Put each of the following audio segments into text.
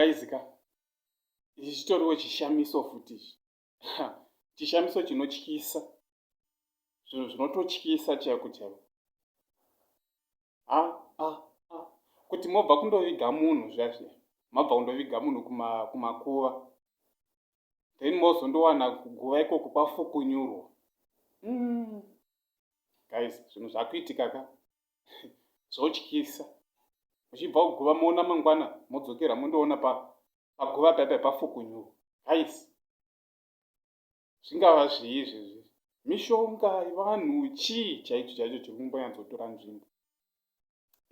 kaizika ichi chitoriwo chishamiso futi ichi chishamiso chinotyisa zvinhu zvinototyisa chaiko chaiko ah, ah, ah. kuti mobva kundoviga munhu zvazviya mabva kundoviga munhu kumakuva then mozondowana kuguva ikoko kwafukunyurwa mm. guys zvinhu zvakuitika ka zvotyisa muchibva kuguva moona mangwana modzokera mondoona paguva pa paipa pafukunyuka guys zvingava zvii izvezvi mishonga yevanhu chii chaicho chaicho chiri kumbonyatsotora nzvimbo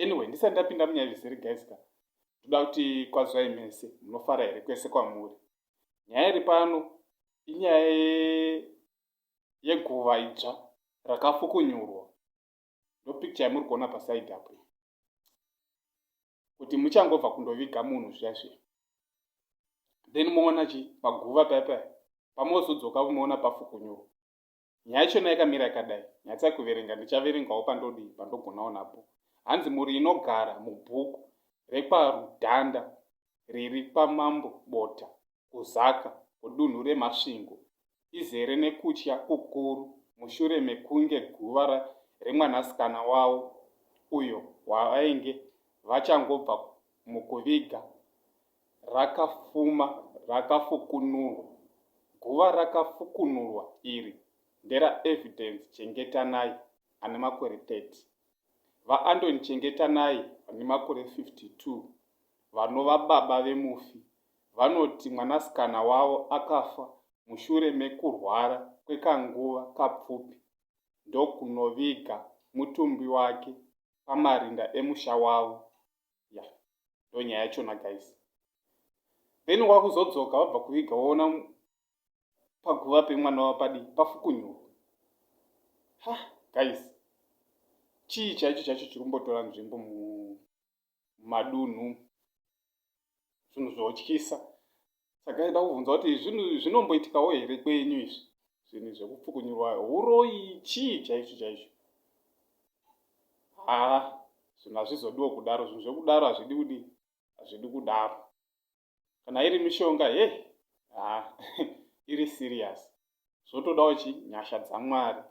anyway ndisati ndapinda munyaya zvisiri guys ka toda kuti kwazvai mese munofara here kwese kwamuri nyaya iri pano inyaya yeguva idzva rakafukunyurwa ndopicture yamuri kuona paside apo kuti muchangobva kundoviga munhu zviya zviya then moona chi paguva paya paya pamozodzoka moona pafukunyurwa nyaya yachona yakamira yakadai nyatsa kuverenga ndichaverengawo pandodii pandogonawo napo hanzi mhuri inogara mubhuku rekwarudhanda riri kwamambo bota kuZaka, kudunhu reMasvingo, izere nekutya kukuru mushure mekunge guva remwanasikana wavo, uyo wavainge vachangobva mukuviga, rakafuma rakafukunurwa. Guva rakafukunurwa iri nderaEvidence Chengetanai, ane makore 30. VaAndoni Chengetanai vane makore 52, vanova baba vemufi, vanoti mwanasikana wavo akafa mushure mekurwara kwekanguva kapfupi ndokunoviga mutumbi wake pamarinda emusha wavo. Yeah, ndonyaya yachona guys. Then wakuzodzoka wabva kuviga woona paguva pemwana wapadi pafukunyurwa ha guys chii chaicho chaicho chikumbotora nzvimbo mumadunhu zvinhu zvotyisa saka ida kubvunza kuti zvinhu zvinomboitikawo here kwenyu izvi zvinhu zvekupfukunyurwa uroyi chii chaicho chaicho haa zvinhu hazvizodiwo kudaro zvinhu zvekudaro hazvidi kudii hazvidi kudaro kana iri mishonga he ha iri serious zvotodawo chi nyasha dzamwari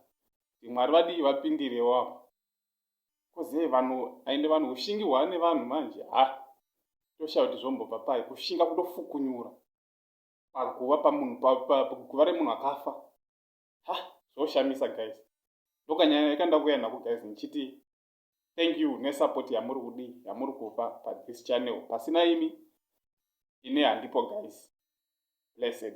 imwari vadii vapindirewo apo koze vanhu aende vanhu ushingi hwane vanhu manje ha toshaya kuti zvombobva pai kushinga kutofukunyura paguva pamunhu paguva remunhu akafa ha zvoshamisa guys ndokanyaya yekanda kuya nako guys ndichiti thank you nesupport yamuri kudi yamuri kupa pathis channel pasina imi ini handipo guys blessed